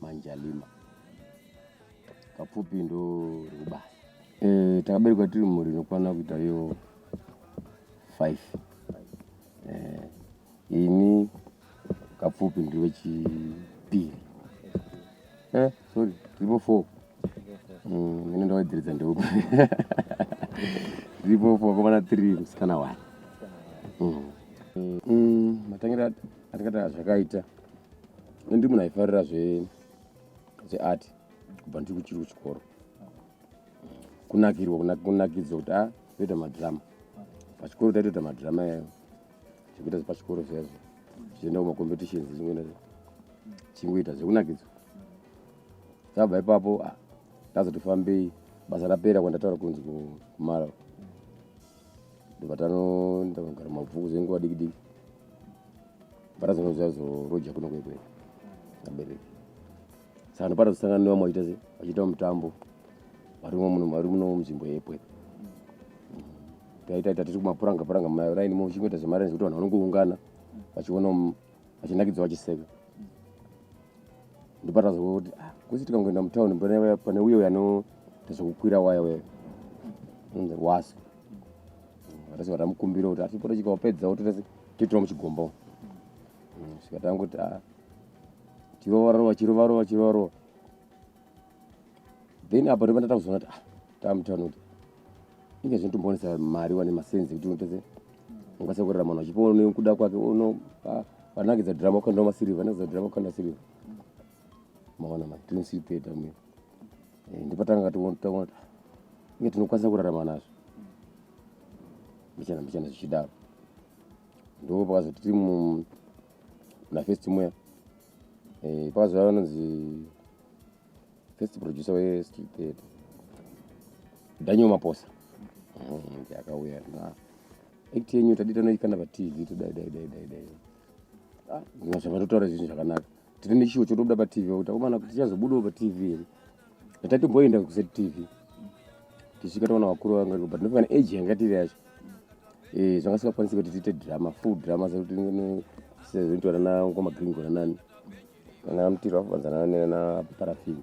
manjalima kapfupi ndo rubasa e, eh, takaberekwa tiri mhuri inokwana kuita yo five e, ini kapfupi ndiri wechipiri e, eh, sorry tiripo four mm, ine ndawaidziridza ndeuku tiripo four vakomana three musikana one mm. mm, matangiro atingatanga zvakaita mm. ndi munhu aifarira zveart kubva ndiri kuchiri kuchikoro kunakirwa kunakidzwa kuti a ah, toita madhirama pachikoro taitoita madhirama yayo zvekuita zvepachikoro zvezvo zvichienda kumacompetitions chingoita zvekunakidzwa tabva ipapo ah, ndazotofambei basa rapera kwandataura kunzi kumara ndobva tanogara mabvuku zvenguva dikidiki parazvanga zvazoroja kuno kwekwe abereki saka ndopata kusangana nevamwe vachiita se vachiita mutambo vari muno munzvimbo yepwe taita ita tiri kumapuranga puranga maraini mo uchingoita zvemaraini zvekuti vanhu vanongoungana vachiona vachinakidzwa vachiseka ndopata zvokuti ah, kusi tikangoenda mutauni pane uye uyo anoita zvekukwira waya waya wasu Rese vatamukumbira kuti atipore chika wapedza wotorese titira muchigombo. Mm, saka tanguti ah chirova rova chirova rova chirova rova. Then apa ndipo ndatakuzoona kuti ah tamutano kuti inge zvinotombonesa mari wane masenzi kuti unotese ungase kurera munhu achipoona nekuda kwake uno ah, vanakidza drama ukandawo masirivha vanakidza drama ukanda sirivha maona ma tinosipeta mwe eh, ndipo tanga taona inge tinokwanisa kurarama nazvo mbichana mbichana zvichidaro ndo pakazoti tiri munafirst muya eh, pakazova vanonzi first producer westreet theatre daniel maposa mm, akauya na act yenyu tadita noikana patv todai dai dai dai dai ah, ndinazvavatotaura zvinhu zvakanaka tiri nechiwo chotobuda patv kuti akomana kuti tichazobudawo patv here ndatatimboenda kuset tv tichisvika taona vakuru vanga but ndofana age yanga tiri yacho eh, zvanga sikakwanisi kuti tiite drama full drama sekuti sezoitwa nana ngoma green gona nani kana mtiro vafanzana nana parafini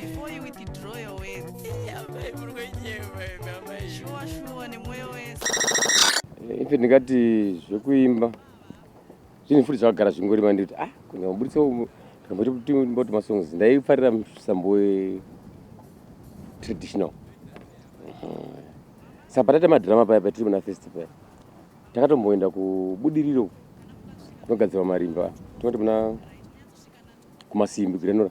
before you withdraw your words amai muri kwenyema imi amai shuwa shuwa nemwoyo wese ife ndingati zvekuimba zvinhu futi zvakagara zvingori manditi ah kunyamuburitsa ndikamboti masongs ndaifarira musambo wetraditional saka pataita madrama paya patiri muna festi paya takatomboenda kubudiriro kunogadzirwa marimba tinoti muna kumasimbi grenora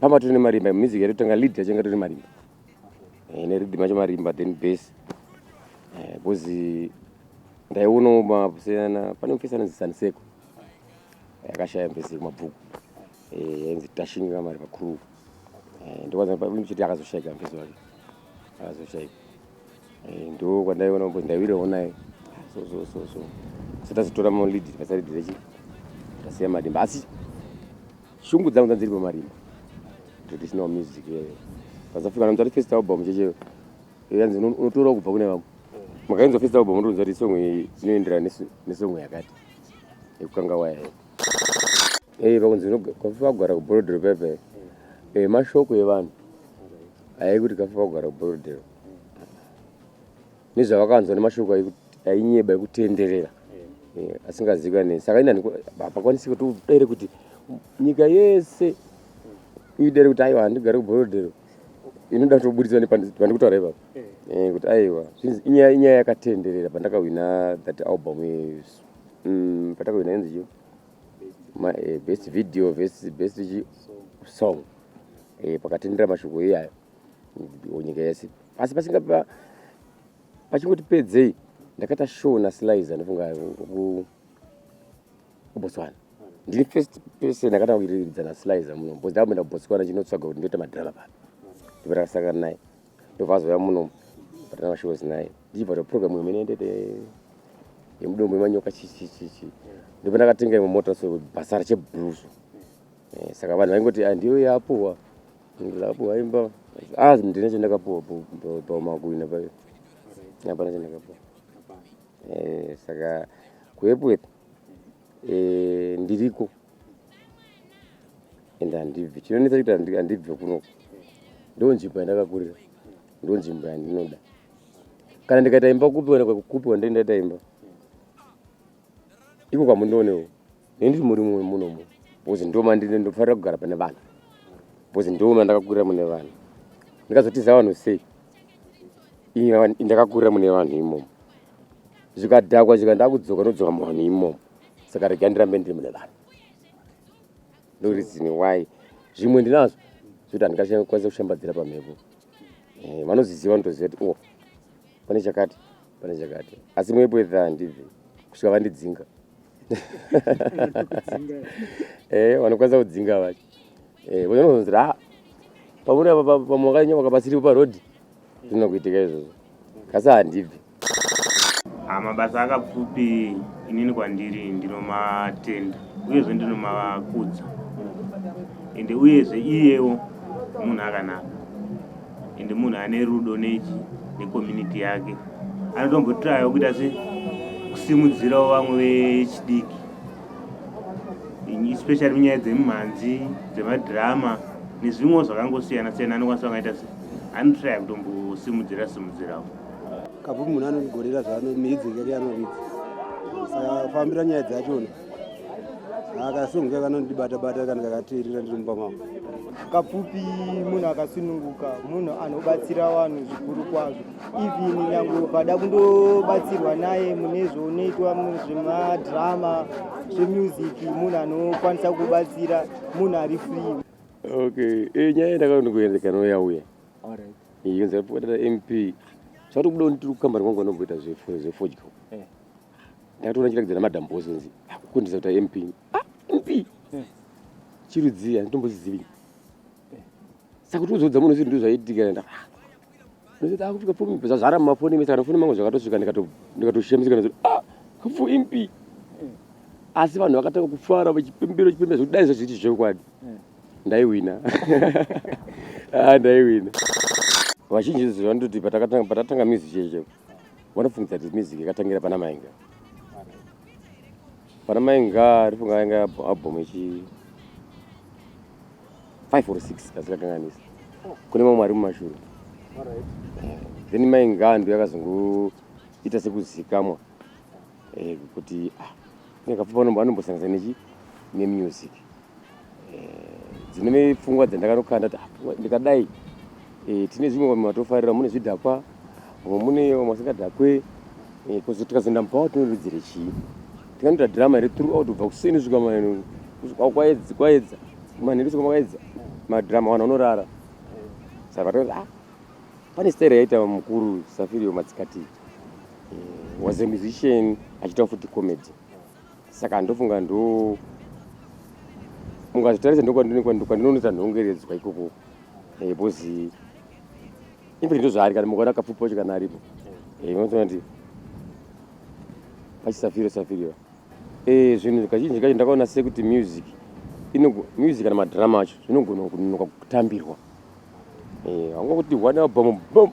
pamba tine marimba music yedu tanga lead yachenga tine marimba eh, ne rhythm yacho marimba then bass eh, because eh, ndaionawo mapusiyana pane mufesi anonzi saniseko yakashaya mufesi yekumabvuku yainzi tashinga mari pakuru ndokwanza chiti akazoshayika mufesi wake akazoshayika Eh, ndo kwandaiona kuti ndaiwira onai so so so so so tazotora malead pasaridhi rechi tasiya marimba asi shungu dzangu dzanziri pamarimba traditional music eh. pazafika namzati first album cheche eh, yanzi uno- unotorawo kubva kune vamwe makainzwa first album unotonzwa kuti song iyi inoenderana nesu- nesong yakati yekukanga waya iyo. Eh, pakunzi unoga- kafufa kugara kuborodhero pepe mashoko evanhu aikuti kafufa kugara kuborodhero nezvavakanzwa nemashoko ainyeba ekutenderera eh, asingazikanei saka inani hapakwanisi kuti udere kuti nyika yese idere kuti aiwa handigare kuborodero inoda kuti ubuditswa nepandikutaura ipapa eh. eh, kuti aiwa inyaya yakatenderera pandakahwina that album yesu mm, patakahwina yenzi chio best video best song pakatendera mashoko iyayo nyika yese asi pasinga pachingoti pedzei ndakaita show nasliza ndofunga kubotswana ndiri first person ndakatanga kuiridza nasliza muno bcause ndakuenda kubotswana chinotsvaga kuti ndoita madrama pano ndipo takasangana naye ndobva azouya muno patana mashows naye ndichibva toprogram imwe inendete yemudombo yemanyoka chichichichi ndipo ndakatenga imwe mota so bhasara chebhruzo eh, saka vanhu vaingoti andiyo ah, yapuwa Ndakapuwa imba. Ah, ndine chandakapuwa paumakuina payo. Hapana chandakapuwa. Eh, saka kuEpworth eh ndiriko. Ende handibvi. Chinonetsa kuti handibvi kuno. Ndoo nzvimbo yandakakurira. Ndoo nzvimbo yandinoda. Kana ndikaita imba kupi wena kupi wandaita imba. Iko kwamundoonewo. Ini ndiri murimu wemuno muno because ndo mandine ndofanira kugara pane vanhu because ndo mandakakurira mune vanhu ndikazotiza vanhu sei ini ava- ndakakurira mune vanhu imomo zvikadhakwa zvika ndakudzoka ndodzoka muvanhu imomo saka rega ndirambe ndiri mune vanhu ndorizini why zvimwe ndinazvo zvekuti handingakwanisa kushambadzira pamhepo Eh, vanozviziva vanotoziva kuti o pane chakati pane chakati asi mwepo edha handibvi kusvika vandidzinga eh vanokwanisa kudzinga vacho eh vanozonzira ah, pamuri apa pamwakanya wakapasiri pa road zvino kuitika izvozvo kasi handibvi ah, mabasa akapfupi inini kwandiri ndinomatenda uyezve ndinomakudza ende uyezve iyewo munhu akanaka ende munhu ane rudo nechi necommunity yake anotombotrayo kuita se kusimudzirawo vamwe vechidiki especially munyaya dzemimhanzi dzemadrama nezvimwewo zvakangosiyana siyana anokwanisa vangaita se anotraya kutombosimudzira simudzirawo kabvu munhu anogorera zvaanomiidzingeri anoridza saka fambira nyaya dzachona akasununguka kanondibata bata kana kakateerera ndiri mumba mavo kapfupi munhu akasununguka munhu anobatsira vanhu zvikuru kwazvo even nyange ukada kundobatsirwa naye mune zvounoitwa zvemadhirama zvemusic munhu anokwanisa kubatsira munhu ari free okay e nyaya ndakaondokuendekanoyauya yonzi apoatata mp zvatokuda ndiri kukambani kwangu anongoita zvefodyo eh. ndakatoona chiratidzo namadam boss kunzi akukundisa ah, kuti mp ah, mp chirudzii handitombozizivi saka kuti uzodza munhu zvinhu ndozvaitika nda akupfika pfumi zvazvara mumafoni mese kana foni mangu zvakatosvika ndikatoshemisika nazo ah kupfu mp asi vanhu vakatanga kufara vachipembera chipembera zvekuti dai zvazviti zvekwadi ndaiwina ah, ndaiwina vazhinji zvandioti patatanga music cheche Vanofungidza kuti music yakatangira pana Mainga. Pana Mainga arifunga yanga album ichi 5 or 6 kasikakanganisa. Kune mamwe ari mumashure. Then Mainga ndiyo yakazongoita sekuzikamwa. eh, kuti ah, nekapfupa anombo anombosanganisa nechi nemusic eh, dzine pfungwa dzandakanokanda kuti ah, ndikadai eh, tine zvimwe vamwe vatofarira mune zvidhakwa vamwe mune vamwe vasingadhakwe eh, kozi tikazoenda mupawa tinoridzire chii tikanoita drama here throughout kubva kuseni svika manheru kusvika kwaedza kwaedza manheru svika kwaedza madrama vanhu vanorara saka vatozi ah pane stera yaita mukuru safirio matsikati mm, was a musician achiita futi comedy saka ndofunga ndo mukazvitarisa ndokwandinonoita nhongeredzwa ikoko eh, bcozi infact ndozvaari kana mukaona kapfupi wacho kana aripo eh, unotoona kuti pachisafiro safiriwa eh, zvinhu kazhinji kacho ndakaona sekuti music music kana madrama acho zvinogona kunonoka kutambirwa Eh, hanga kuti one album boom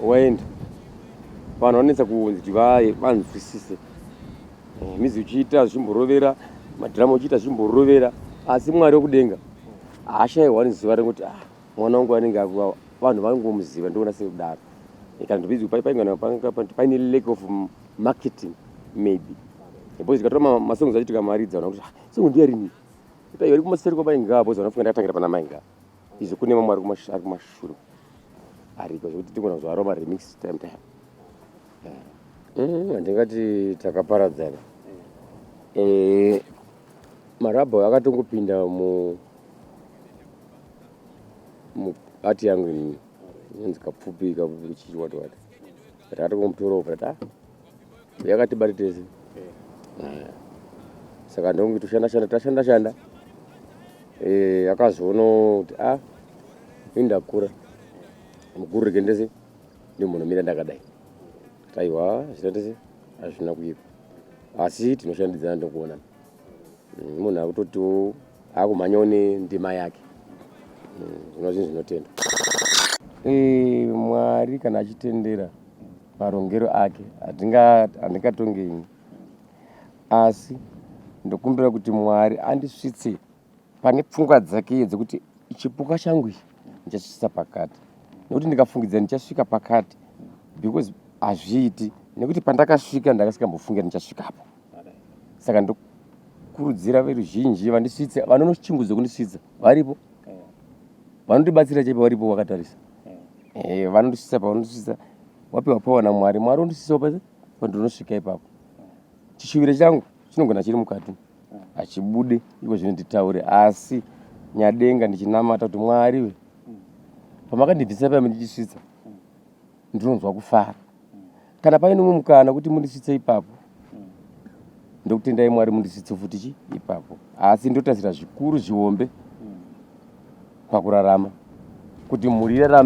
waenda vanhu vanetsa kunzi vanzwisise eh, mizi uchiita zvimborovera madhirama uchiita zvimborovera asi mwari wekudenga haashaiwa nezuva rekuti ah, mwana wangu anenge akuwawa vanhu vangomuziva ndoona sekudaro eh, kana ndopedzi paine lack of marketing maybe because zikatora masongs achiti kamaridza ona kuti ah, songo ndiyarini Ita yori kumaseri kwa mainga apo zona funga ndatangira pana mainga. Izvo kune mamwe ari kumashure ari kumashure. Ari kwa zvekuti tikona zwa Roma remix time time. Mm, ndingati takaparadzana. Eh marabho akatongopinda mu mu art yangu ini. Inonzi kapfupi kapfupi chichi wati wati. Tati kumutora uko ta yakatibata tese eh. saka ndonge toshanda shanda tashanda shanda eh, akazoona kuti a ah, ini ndakura mukuru rege ndese ndi munhu mira ndakadai aiwa zvita tese hazvina kuipa asi tinoshandidzana ndokuonana mm, munhu akutotiwo akumhanyawo nendima yake mm, zvino zvinhu zvinotenda eh, mwari kana achitendera marongero ake handingatonge ini asi ndokumbira kuti mwari andisvitse pane pfungwa dzake iye dzekuti chipuka changu ichi ndichasvisa pakati nekuti ndikafungidza ndichasvika pakati because hazviiti nekuti pandakasvika ndakasikambofungira ndichasvikapo saka ndokurudzira veruzhinji vandisvitse vanonochingudza kundisvitsa varipo vanotibatsira chaipo varipo vakatarisa eh, vanondisvitsa pavanondisvitsa wapiwa pawana mwari mwari undisvitsawo pa pandinosvika ipapo chishuviro changu chinogona chiri mukati hachibude iko zvino nditaure asi nyadenga ndichinamata kuti mwari we pamakandibvisa paya mundichisvitsa ndinonzwa kufara kana paine umwe mukana kuti mundisvitse ipapo ndokutendai mwari mundisvitse futi chi ipapo asi ndotarisira zvikuru zvihombe pakurarama kuti mhuri irarame